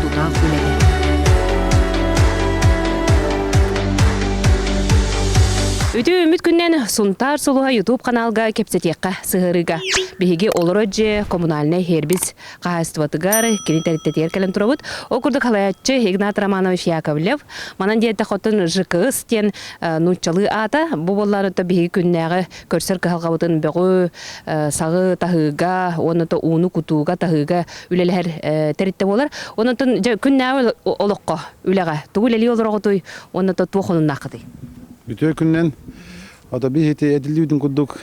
Тутаах үлэһит. Үтү үмүт күннэн Сунтаар Сулуһа YouTube каналга кепсетиэххэ сыһырыга. Биһиги олоро дье коммунальнай хербиз хаһаайыстыбатыгар кини тэриттэтигэр кэлэн турабыт. Ол курдук халаяччы Игнат Романович Яковлев, манан диэте хотун ЖКС тен э, нууччалыы аата, бу боллары то биһиги күннээҕи көрсөр кыһалҕабытын бөҕү саҕы таһыыга уонна ууну кутууга таһыыга үлэлэһэр тэриттэ буолар онон күннээҕи олоххо үлэҕэ тугу үлэлии олороҕутуй уонна туох хонуннааххытый бүтүө күннэн атаби хити эдилиутун курдук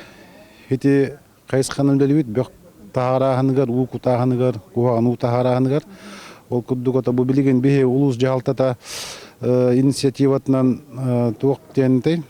хити хайысханан үлэлиибит бөх таһаарааһыныгар уу кутааһыныгар куһаҕан уу таһаарааһыныгар ол курдук ото бу билигин биһи улуус дьаһалтата инициативатынан туох диэнтэй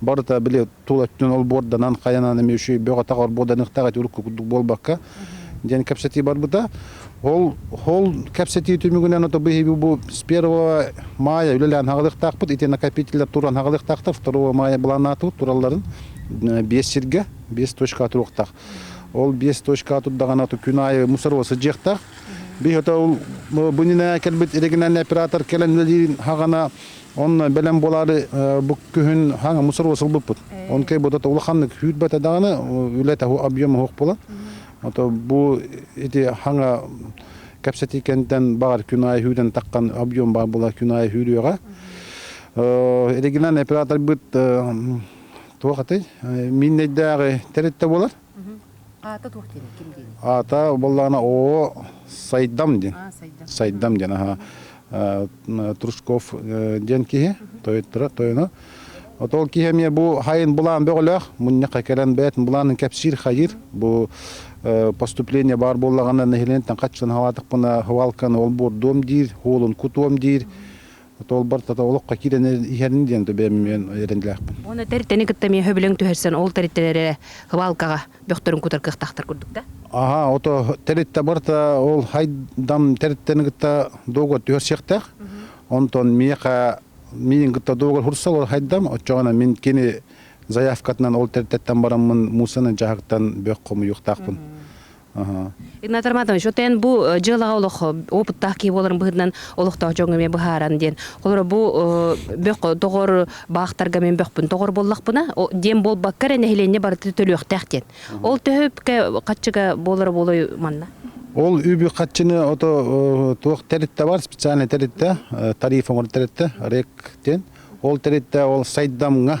барыта били тул өттүн олбуорданан хайанан эмиэ үчүгэй бөҕөтөх орбуоданыктаах эти урукку курдук буолбакка диэн кэпсэтии барбыта ол ол кэпсэтии түмүгүнэн ото биһиги бу с первого мая үлэлээн хагалыктаахпыт ити накопителлер туран хагалыктаахтар второго мая быланаатыбыт туралларын биэс сиргэ биэс точка туруохтаах ол биэс точка турдаҕана ото күн аайы мусорова сыдьыахтаах би ото бу нинэ кэлбит иригинальный оператор кэлэн үлэлиин хагана Онно бэлэм буолаары бу күһүн хаҥа мусор сылбыппыт. Он кей бу то улаханнык хүүрбэт даҕаны үлэ таһу объем оһох була. Ото бу ити хаҥа кэпсэти кэнтен баҕар күнай хүүден таккан объем баа була күнай хүүрүөҕэ. Региональный оператор быт туох аты миннейдээҕи тэритте болар. Аата туох диэний, ким диэний? Аата буоллаҕына оо Сайдам диэн. Сайдам диэн аhaa. Трушков диэн киһи тойуттара тойоно. Ото ол киһи эмиэ бу хайын булаан бөҕөлөөх мунньахха кэлэн бэйэтин булаанын кэпсиир хайыр бу поступление баар буоллаҕына нэһилиэнтэн хаччын хаваатыкпына хвалканы ол буордуом диир, хуолун кутуом диир Отолбор тата олоххо киирэн иһэрин диэн да бэйэм эрэннилээхпин. Уонна тэртэни кытта эмиэ өһөбүлэҥ түһэрсэн ол тэриттэн эрэ кыбаалкаҕа бөхтөрүн кутар кыахтаахтар курдук да? Аһаа, ото тэрилтэ барыта ол хайдам тэрилтэни кытта дуогугар түһэрсиэхтээх. Онтон миэхэ миигин кытта дуогугар хурсал ол хайдам, оччоҕуна мин кини заявкатынан ол тэрилтэттэн бараммын муусаны дьаһагтан бөх хомуйуохтаахпын. Игнат Романович, вот эн бу э, дьыалаҕа олох э, опыттаах киһи буоларын быһытынан олохтоох дьоҥҥо эмиэ быһааран диэн. Холоро бу э, бөх доҕор баахтарга мен бөхпүн доҕор боллахпына диэн болбаккар нэһилиэнньэ барыта төлүөхтээх диэн. Ол төһөпкө хаччыга болоро болой манна? Ол үбү хаччыны ото туох тэритте бар специальный тэритте тариф оңор тэритте рек ден. Ол тэритте ол сайдамга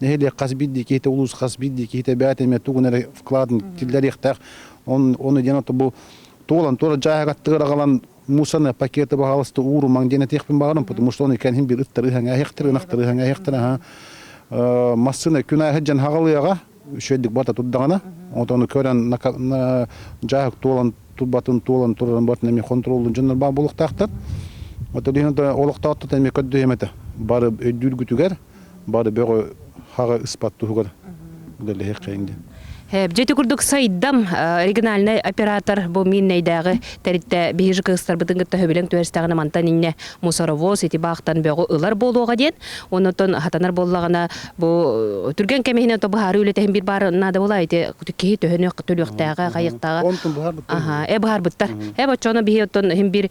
нэһилиэк хас биирдии киһитэ улуус хас биирдии киһитэ бэйэтэ эмиэ тугун эрэ вкладын киллэриэхтээх оны оны диэн ото бу туолан туора дьааһыга тыырагалан мусаны пакеты баһаалыста ууру маҥ диэн этиэхпин баҕарам потому что ону кэнһин бир ыттар ыһаҥ эһэхтер ынахтар ыһаҥ эһэхтер аха массыына күнааһы дьэн хагалыаҕа үшүөдүк бата турдаҕына отону көрөн дьааһык туолан турбатын туолан турарын батын эми контроллун дьоннор баа булуктаахтат отолиһин олохтоотто эми көрдү эмете бары өйдүүргүтүгэр бары бөҕө хаҕа ыспат туһугар үлэлэһиэххэйин диэн. Дьэ ити курдук сайдам региональнай оператор бу Миннэйдээҕи тэрилтэ биһиги же кыыстарбытын кытта хөбүлэҥ түһэрстэҕинэ мантан инньэ мусоровоз ити баахтан бөҕү ылар буолуоҕа диэн оннуттан хатанар буоллаҕына бу түргэн кэм иһинэн то быһаарыы үлэтин биир баар наада буолаа ити киһи төһөнүөх төлүөхтээҕэ хайыахтааҕа онтун быһаарбыттар ы быһаарбыттар eb оччоно биһи оттон хим бир